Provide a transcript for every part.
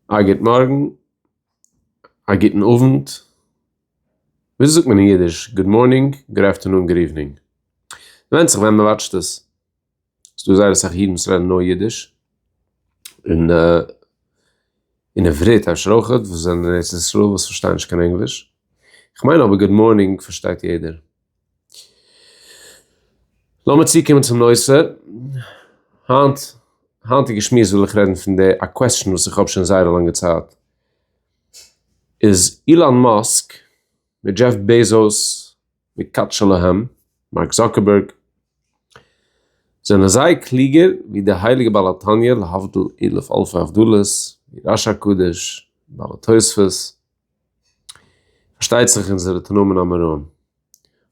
א גוט מארגן, א גוטן אוונט, וויאזוי זאגט מען אין אידיש גוד מארנינג, גוד אפטערנון, גוד איווענינג? ווענדט זיך ווען מען וואטשט עס, ס'דא זייער אסאך אידן וואס רעדן נאר אידיש, און און עברית אפשר אויך, וואס זענען אין ארץ ישראל וואס פארשטייען נישט קיין ענגליש, כ'מיין אבער גוד מארנינג פארשטייט יעדער. לאמיר צוקומען צום נושא, היינט, היינטיגע שמועס וויל איך רעדן פון די, א קוועסטשן וואס איך האב שוין זייער א לאנגע צייט, איז אילאן מאסק מיט דזשעף בעזאוס מיט קאטש שלהם, מארק זאקערבערג, זענען זיי קלוגער ווי די הייליגע בעל התניא להבדיל אלף אלפי הבדלות, די רש הקדוש, בעל התוספות, פארשטייט זיך אונזערע תנאים אמוראים.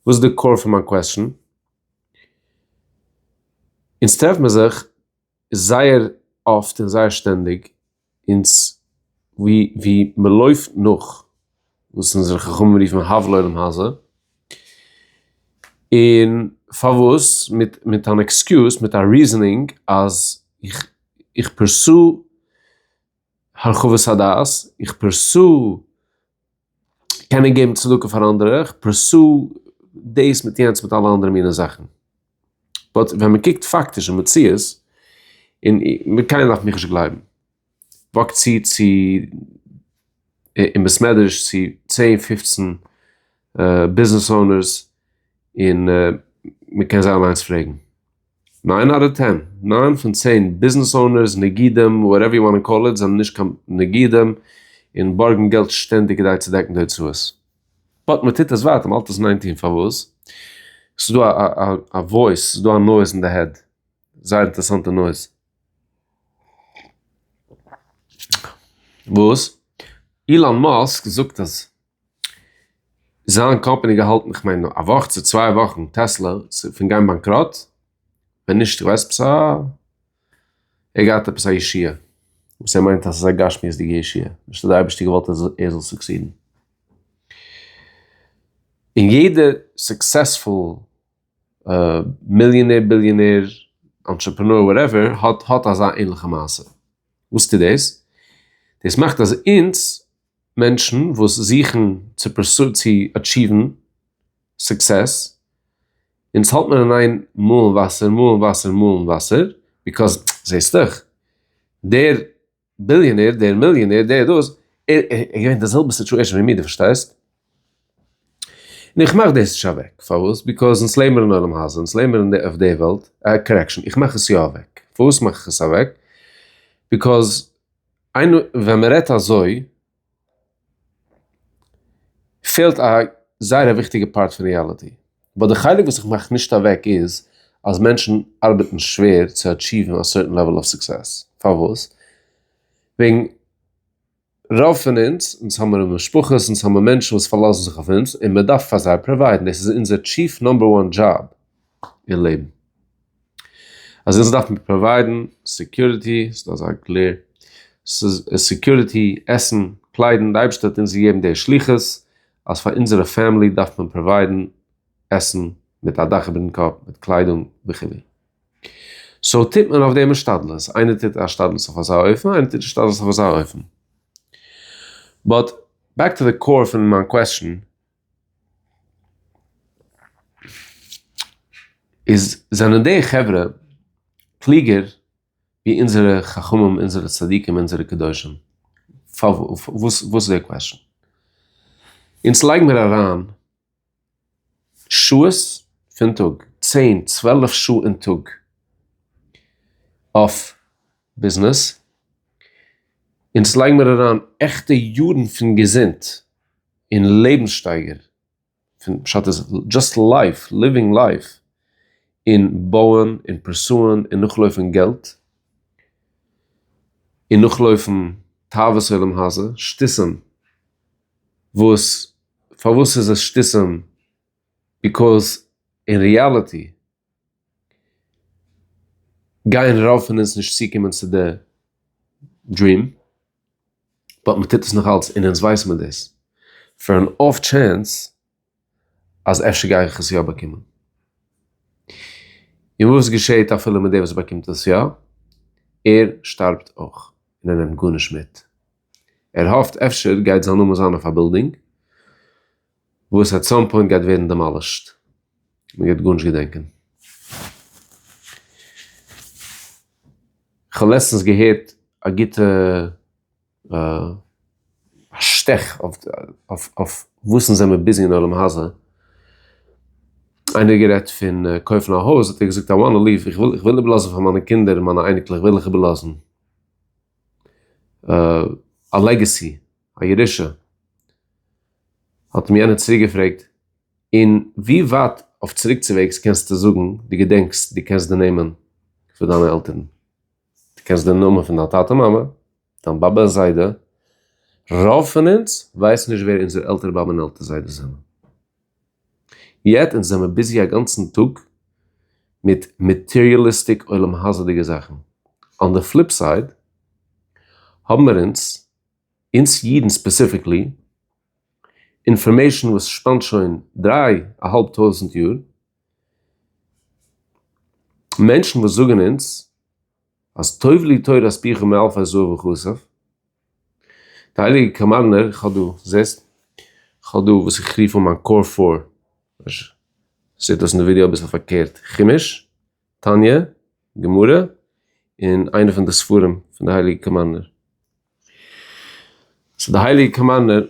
וואס איז די קאור פון מיין קוועסטשען? אונז טרעף מיר זיך זייער אפט און זייער שטענדיג אונז ווי מען לויפט נאך וואס אונזערע חכמים רופן הוו לעולם הזה, און פארוואס מיט מיט אן עקסקיוז מיט א ריזענינג אז איך איך פורסו הרחבת הדעת, איך פרסו קענען געבן צדקה פאר אנדערע, איך פרסו דאס מיט יענץ מיט אלע אנדערע מיני זאכן. באט ווען מען קוקט פאקטיש אין מציאות, און מיט קיינער דארף מיך נישט גלייבן, וואקט צו צו אין בית מדרש צו צען פופצן ביזנעס אונערס און מען קען זיי אליינס פרעגן. ניין אדער טען? ניין פון צען ביזנעס אונערס, נגידים, וואטעווער יו וואנט קאל איט, זענען נישט קיין נגידים און בארגן געלט שטענדיג כדי צו דעקן די הוצאות. באט מען טוט עס ווייטער, מען האלט עס אין איין טון פארוואס? ס'איז דא א וואויס, ס'איז דא א נויז אין די העד, זייער אינטערעסאנטע נויז. וואס? אילאן מאסק זאגט אז. זיין קאמפעני געהאלטן איך מיין א וואך צו צוויי וואכן טעסלע פון גיין באנקראט, ווען נישט איך ווייס עפעס א ער געהאט עפעס א ישועה וואס ער מיינט אז עס איז א גשמיות'דיגע ישועה נישט אז די אייבערשטער געוואלט אז ער זאל סוקסידן. און יעדע סוקסעספול מיליאנער ביליאנער אנטשעפענאר וואטעווער האט האט אזא ענליכע מעשה, וואס טוט דאס? דאס מאכט אז אונז מענטשן וואס זוכן צו פרסו צו אטשיוון סוקסעס, און עס האלט מיר אין איין מאלן וואסער מאלן וואסער מאלן וואסער, ביקאז זעהסט דאך דער ביליאנער דער מיליאנער דער דאס ער איז געווען אין די זעלבע סיטואשען ווי מיר די פארשטייסט, און איך מאך דאס נישט אוועק פארוואס ביקאז אונז לעבן אין עולם הזה אונז לעבן אין אויף די וועלט, קארעקשאן איך מאך עס יא אוועק פארוואס מאך איך עס אוועק ביקאז איינמאל ווען מען רעדט אזוי פעלט א זייער א וויכטיגע פארט פון ריעליטי, באט די חלק וואס איך מאך נישט אוועק איז אז מענטשן ארבעטן שווער צו אטשיוון א סערטען לעוועל אוו סוקסעס, פארוואס? וועגן רוב פון אונז, אונז האמיר משפחות, אונז האמיר מענטשן וואס פארלאזן זיך אויף אונז און מען דארף פאר זיי פראוויידן, דאס איז אונזער טשיף נומבער וואן דזשאב אין לעבן. אזעלכע דארף מען פראוויידן, סעקיוריטי, ס'דא אזא גלער, סעקיוריטי, עסן, קליידן, די אייבערשטער האט אונז געגעבן די שליחות אז פאר אונזערע פעמילי דארף מען פראוויידן עסן, מיט א דאך איבערן קאפ, מיט קליידונג וכו', סאו טוט מען אויף דעם השתדלות, איינער טוט השתדלות אויף אזא אופן, איינער טוט השתדלות אויף אזא אופן, באט בעק טו די קאור פון מיין קוועסטשן, איז זענען די חברה קלוגער ווי אונזערע חכמים אונזערע צדיקים אונזערע קדושים? וואס איז די קוועשן? אונז לייג מיר אריין שעות פון טאג צען צוועלף שעה אין טאג אויף ביזנעס, אונז לייג מיר אריין עכטע יארן פון געזונט און לעבנסשטייגער, פון פשט איז דזשאסט לייף, ליווינג לייף, און בויען און פורסוען און נאכלויפן געלט, און נאכלויפן תאוות עולם הזה, שטותים וואס פארוואס איז עס שטותים? ביקאוז אין ריאליטי גייען רוב פון אונז נישט צוקומען צו די דריעם, באט מען טוט עס נאכאלץ און אונז ווייסן מיר דאס, פאר אן אףף טשענס אז אפשר גיי איך עס יא באקומען. און וואס געשעהט אפילו מיט דער וואס באקומט עס יא? ער שטארבט אויך און ער נעמט גארנישט מיט. ער האפט אפשר גייט זיין נאמען זיין אויף א בילדינג. וואס עט סאם פוינט גייט ווערן דעמאלישט, מ'גייט גארנישט געדענקען. כ'האב לעצטנס געהערט א גוטע שטעך אויף וואס אונז זעמיר ביזי אין עולם הזה, איינער האט גערעדט פון קויפן א הויז האט ער געזאגט איי וואנט ליוו, איך וויל איבערלאזן פאר מיינע קינדער און מיינע אייניקלעך וויל איך איבערלאזן א לעגעסי, א ירושה, האט מיר יענער צוריק געפרעגט, און ווי ווייט אויף צוריקצווועגס קענסטו זאגן דו געדענקסט, דו קענסט די נעמען פון דיינע עלטערן, דו קענסט די נאמען פון דיין טאטע מאמע, דיין באבע און זיידע, רוב פון אונז ווייסן נישט ווער אונזער עלטער באבע און עלטער זיידע זענען, יעט אונז זעמער ביזי א גאנצן טאג מיט מאטעריאליסטיק עולם הזה'דיגע זאכן, אן די פליפ סייד האבן מיר אונז אונז אידן ספעסיפיקלי, אינפארמעישן וואס שפאנט שוין דריי א האלב טויזנט יאר, מענטשן וואס זאגן אונז אז טוב לי תורת פיך מאלפי זהב וכסף, די הייליגע קאמארנער, איך האב דא, זעסט? איך האב דא וואס איך רוף אן מיין קאור פאר, זעט אויס אין די ווידעא אביסל פארקערט, חומש. תניא, גמרא, און איינע פון די ספרים פון די הייליגע קאמארנער. סאו די הייליגע קאמארנער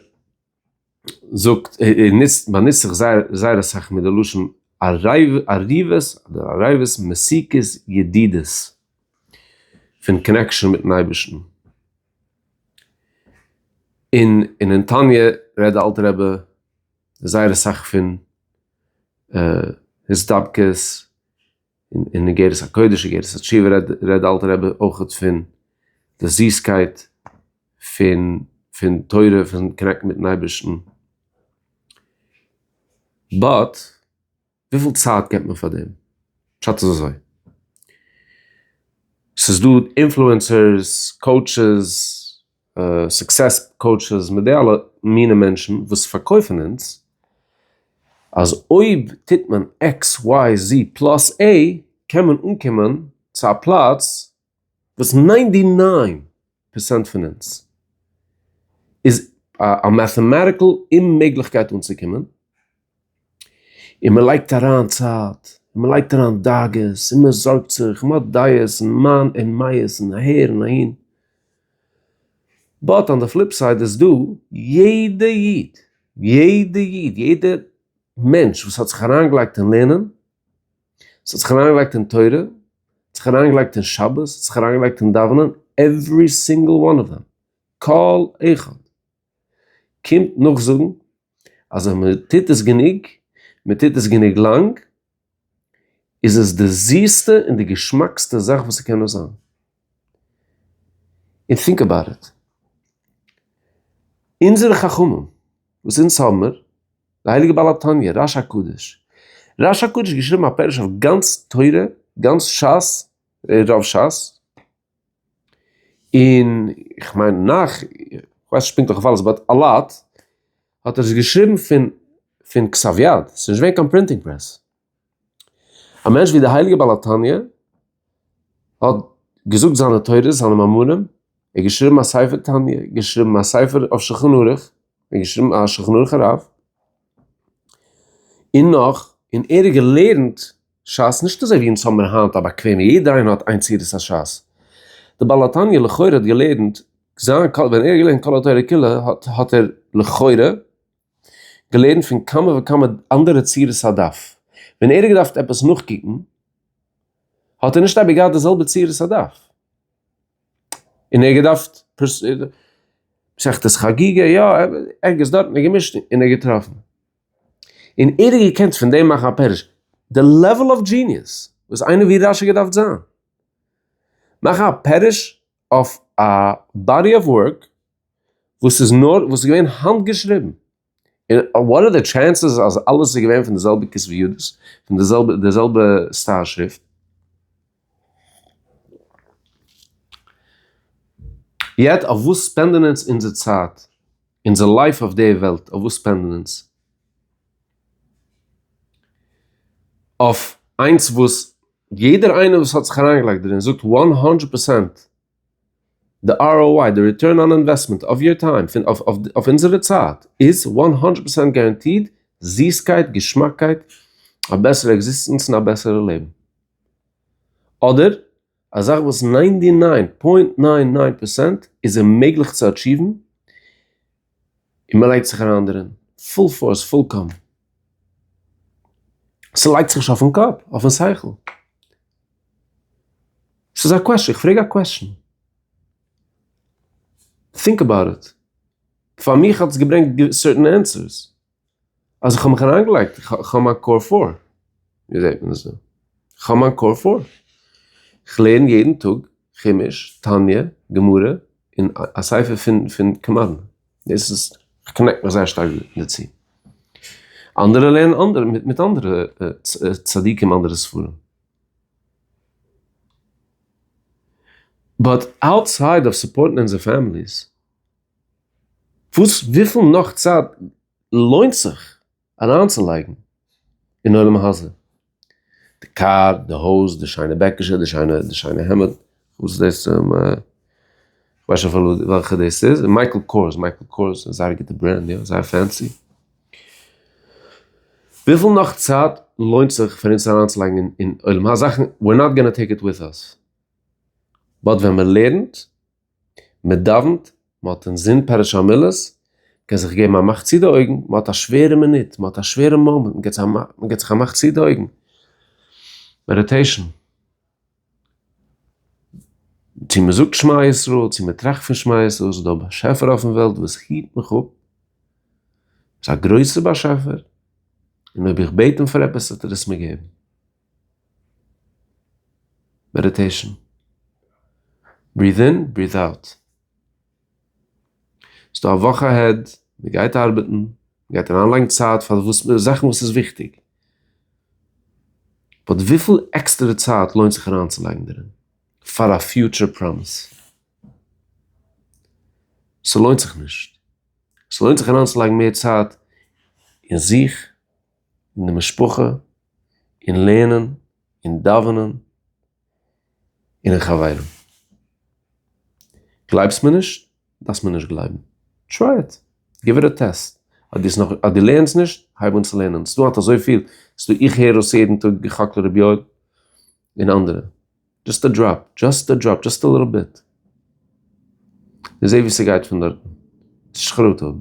זאגט, ער נוצט, באנוצט זיך זייער זייער אסאך מיט די לשון עריבות אדער עריבות מסיכות ידידות, פון קאנעקשאן מיט'ן אייבערשטן. און אין תניא רעדט די אלטע רבי זייער אסאך פון הסתפקות אין אגרת הקודש אגרת התשובה רעדט די אלטע רבי אויך פון די זיסקייט פון פון תורה פון קאנעקטן מיטן אייבערשטן, באט וויפיל צייט געבט מען פאר דעם? פשט איז אזוי, ס'איז דא אינפלוענסערס, קאוטשעס, סוקסעס קאוטשעס מיט די אלע מיני מענטשן וואס פארקויפן אונז אז אויב טוט מען עקס וויי זי פלאס עי קען מען אנקומען צו א פלאץ וואס ניינטי ניין פערסענט פון אונז איז א מעטאמאטיקעל אוממעגליכקייט אנצוקומען, און מען לייגט אריין צייט, און מען לייגט אריין דאגות, און מען זארגט זיך, מען האט דעות און מיין און מייעס און אהער און אהין. באט אן די פליפ סייד איז דא יעדע איד, יעדע איד, יעדע מענטש וואס האט זיך אריינגעלייגט אין לערנען, וואס האט זיך אריינגעלייגט אין תורה, וואס האט זיך אריינגעלייגט אין שבת, וואס האט זיך אריינגעלייגט אין דאווענען, עוורי סינגל וואן אוו דעם, כל אחד, קומט נאכזאגן אז ווען מען טוט עס גענוג, מען טוט עס גענוג לאנג, איז עס די זיסטע און די געשמאקסטע זאך וואס ס'קען נאר זיין. און טינק אבאוט איט. אונזערע חכמים וואס אונז האבן מיר, די הייליגע בעל התניא, רש הקדוש, רש הקדוש האט געשריבן א פירוש אויף גאנץ תורה, גאנץ שס, רוב שס, און איך מיין נאך, כ'ווייס נישט פונקטליך אויף אלעס באט א לאט, האט ער עס געשריבן פון פון כסף יד, ס'איז נישט געווען קיין פרינטינג פרעס. א מענטש ווי די הייליגע בעל התניא האט געזאגט זיינע תורות, זיינע מאמרים, ער האט געשריבן א ספר תניא, געשריבן א ספר אויף שולחן ערוך, און געשריבן א שולחן ערוך הרב, און נאך, און ער האט געלערנט. שס נישט אזוי ווי אונז האבן מיר היינט א באקוועמע יעדער איינער האט איין צורת השס. די בעל התניא לכאורה האט געלערנט זיין קול ווען ער האט געלערנט כל התורה כולה האט האט ער לכאורה געלערנט פון כמה וכמה אנדערע צורות הדף. ווען ער האט געדארפט עפעס נאכקוקן האט ער נישט אייביג געהאט די זעלבע צורת הדף. און ער האט געדארפט מסכת חגיגה יא ערגעץ דארט האט ער געמישט און ער האט געטראפן. און ער האט געקענט פון דעם מאכן א פירוש. די לעוועל אויף דזשיניעס וואס איינער ווי רש י געדארפט זיין. מאכן א פירוש אויף א באדי אוו ווארק וואס איז נאר, וואס איז געווען האנט געשריבן. און וואט אר די טשענסעס אז אלעס איז געווען פון די זעלבע כתבי ידות, פון די זעלבע סטייל שריפט. יעצט אויף וואס ספענדען אונז אונזער צייט? אונזער לייף אויף דער וועלט אויף וואס ספענדען אונז? אויף איינס וואס יעדער איינער וואס האט זיך אריינגעלייגט דערין זאגט וואן האנדרעט פערסענט די ROI די ריטורן אן אינוועסטמענט אויף יור טיים פון אויף אונזערע צייט איז וואן האנדרעט פערסענט גאראנטיד זיסקייט געשמאקקייט א בעסערע עקזיסטענץ און א בעסערע לעבן. אדער א זאך וואס ניינטי ניין פוינט ניין ניין פערסענט איז אוממעגליך צו אטשיוון און מען לייגט זיך אריין דערין פול פארס פולקאם, ס'לייגט זיך נישט אויפן קאפ, אויפן שכל, ס'איז א קוועשאן, כ'פרעג א קוועשאן, טינק עבאוט איט, פאר מיך האט עס געברענגט סערטען ענסערס. אז איך האב מיך אריינגעלייגט, איך האב מיין קאר פאר, ווי זעהט מען עס דא? איך האב מיין קאר פאר, איך לערן יעדן טאג חומש, תניא, גמרא, און א ספר פון פון קמדן, דאס איז, איך קאנעקט מיך זייער שטארק דערצו, אנדערע לערנען אנדערע מיט מיט אנדערע צדיקים אנדערע ספרים, באט אוטסייד אוו סופארטן אונזער פעמיליס. וואס וויפיל נאך צייט לוינט זיך אריינצולייגן אין עולם הזה? די קאר, די הויז, די שיינע בעקישע, די שיינע די שיינע העמד, וואס איז דאס און כ'ווייס שוין אפילו וועלכע דאס איז, און מייקל קארס, מייקל קארס איז זייער גוטע ברענד יא, זייער פענסי. וויפיל נאך צייט לוינט זיך פאר אונז אריינצולייגן אין עולם הזה זאכן, ווי אר נאט גאנא טעיק איט וויט אס, באט ווען מ'לערנט, מען דאווענט, מען האט אינזין פרש המילות, מען קען זיך געבן א מאך צו די אויגן, מען האט א שווערע מינוט, מען האט א שווערע מאמענט, מען געבט זיך א מאך צו די אויגן, מעדיטעישן, צו מען זאגט שמע ישראל, צו מען טראכט פון שמע ישראל, ס'איז דא א באשעפער אויפן וועלט וואס היט מיך אפ, ס'איז א גרויסע באשעפער, און אויב איך בעט אים פאר עפעס וועט ער עס מיר געבן. מעדיטעישן, בריעט אין בריעט אוט, ס'דא א וואך אהעד, מ'גייט ארבעטן, מ'גייט אריינלייגן צייט פאר וואס מ'איז, זאכן וואס איז וויכטיג, באט וויפיל עקסטערע צייט לוינט זיך אריינצולייגן דערין פאר א פיוטשער פראמיס? ס'לוינט זיך נישט, ס'לוינט זיך אריינצולייגן מער צייט אין זיך, אין די משפחה, אין לערנען, אין דאווענען, און אין חברים. גלייבסט מיר נישט? דארפסט מיר נישט גלייבן. טריי איט. גיוו איט א טעסט. אז דו לערנסט נישט, הייב אן צו לערנען. ס'איז דא האט אזויפיל. ס'איז דא איך הער אויס יעדן טאג כ ק ר' יואל און אנדערע. דזשאסט א דראפ. דזשאסט א דראפ. דזשאסט א ליטל ביט. און זעה וואו ס'גייט פון דארטן. נישט חרטה האבן.